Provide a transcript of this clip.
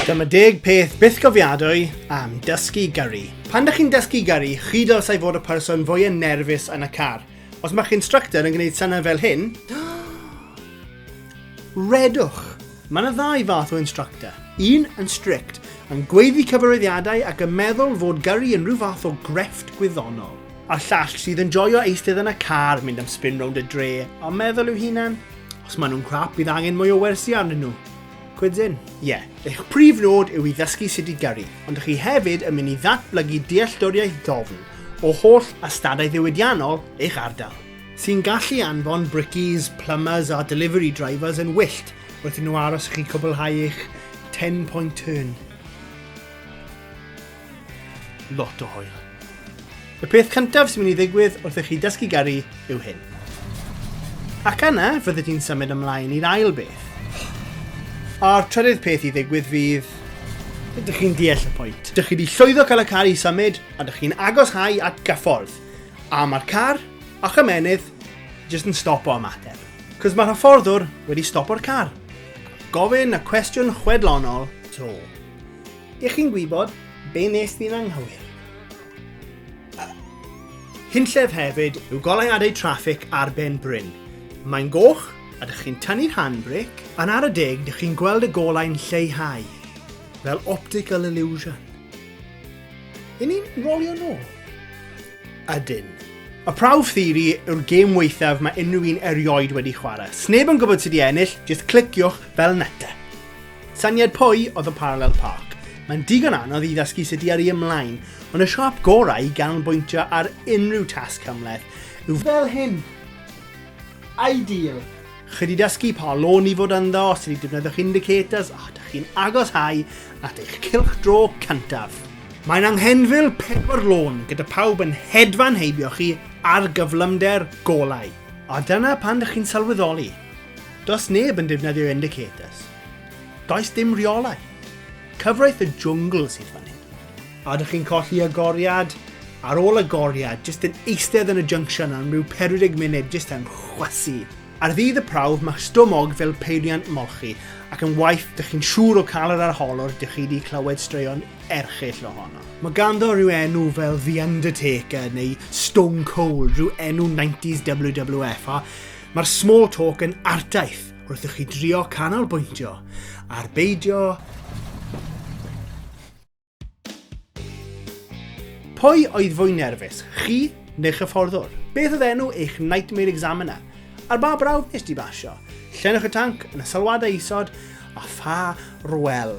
Dyma deg peth bythgofiadwy am dysgu gyrru. Pan dych chi'n dysgu gyrru, chi dylsai fod y person fwyaf nerfus yn y car. Os mae'ch instructor yn gwneud synnau fel hyn, redwch. Mae yna ddau fath o instructor. Un yn strict, yn gweiddi cyfarwyddiadau ac yn meddwl fod gyrru yn rhyw fath o grefft gwyddonol. A'r llall sydd yn joio eistedd yn y car, mynd am spin rownd y dre, a meddwl i'w hunan, Os maen nhw'n crap, bydd angen mwy o wersi arnyn nhw. Cwydyn? Ie, yeah. eich prif nod yw i ddysgu sut i gyrru, ond ych chi hefyd yn mynd i ddatblygu dealltwriaeth ddofn o holl ystadau ddiwydiannol eich ardal sy'n gallu anfon brickies, plumbers a delivery drivers yn wyllt wrth i nhw aros i chi cwblhau eich 10-point turn. Lot o hwyl. Y peth cyntaf sy'n mynd i ddigwydd wrth i chi dysgu garu yw hyn. Ac yna, fyddi di'n symud ymlaen i'r ail beth. A'r trydydd peth i ddigwydd fydd... Ydych chi'n deall y pwynt? Dych chi wedi llwyddo cael y car i symud, a dych chi'n agos hau at gyffordd. A mae'r car, a'ch ymenydd, jyst yn stopo ymateb. Cos mae'r hyfforddwr wedi stopo'r car. Gofyn y cwestiwn chwedlonol to. Dych chi'n gwybod be nes di'n anghywir? Hunllef hefyd yw goleuadau traffig ar ben bryn. Mae'n goch a dych chi'n tynnu'r handbrake, Yn ar y deg, dych chi'n gweld y golau'n lleihau, fel optical illusion. Yn ni'n rolio nôl? Ydyn. Y prawf theori yw'r gêm weithaf mae unrhyw un erioed wedi chwarae. Sneb yn gwybod sydd wedi ennill, jyst cliciwch fel neta. Syniad pwy oedd y Parallel Park? Mae'n digon anodd i ddysgu sut i yrru ymlaen, ond y siop gorau i ganolbwyntio ar unrhyw tasg cymhleth yw fel hyn. Ideal! Chi wedi dysgu pa lôn i fod ynddo, sut i defnyddio'ch indicators a ydych chi'n agoshau at eich cylch draw cyntaf. Mae'n anghenfil pedwar lôn gyda phawb yn hedfan heibio chi ar gyflymder golau. A dyna pan dych chi'n sylweddoli Does neb yn defnyddio indicators. Does dim rheolaeth. Cyfraith y jwngl sydd fan hyn. A ydych chi'n colli agoriad? Ar ôl agoriad, jyst yn eistedd yn y junction am rhyw 40 munud jyst yn chwasu. Ar ddydd y prawf, mae stumog fel peiriant molchi, ac yn waith, dych chi'n siŵr o cael yr arholwr, dych chi wedi clywed straeon erchill ohono. Mae ganddo rhyw enw fel The Undertaker neu Stone Cold, rhyw enw 90s WWF, a Mae'r small talk yn ardaith wrth i chi drio canolbwyntio ar beidio Pwy oedd fwy nerfus, chi neu'ch hyfforddwr? Beth oedd enw eich Nightmare Examiner? Ar ba brawf nes di basio? Llenwch y tanc yn y sylwadau isod a pha rwel.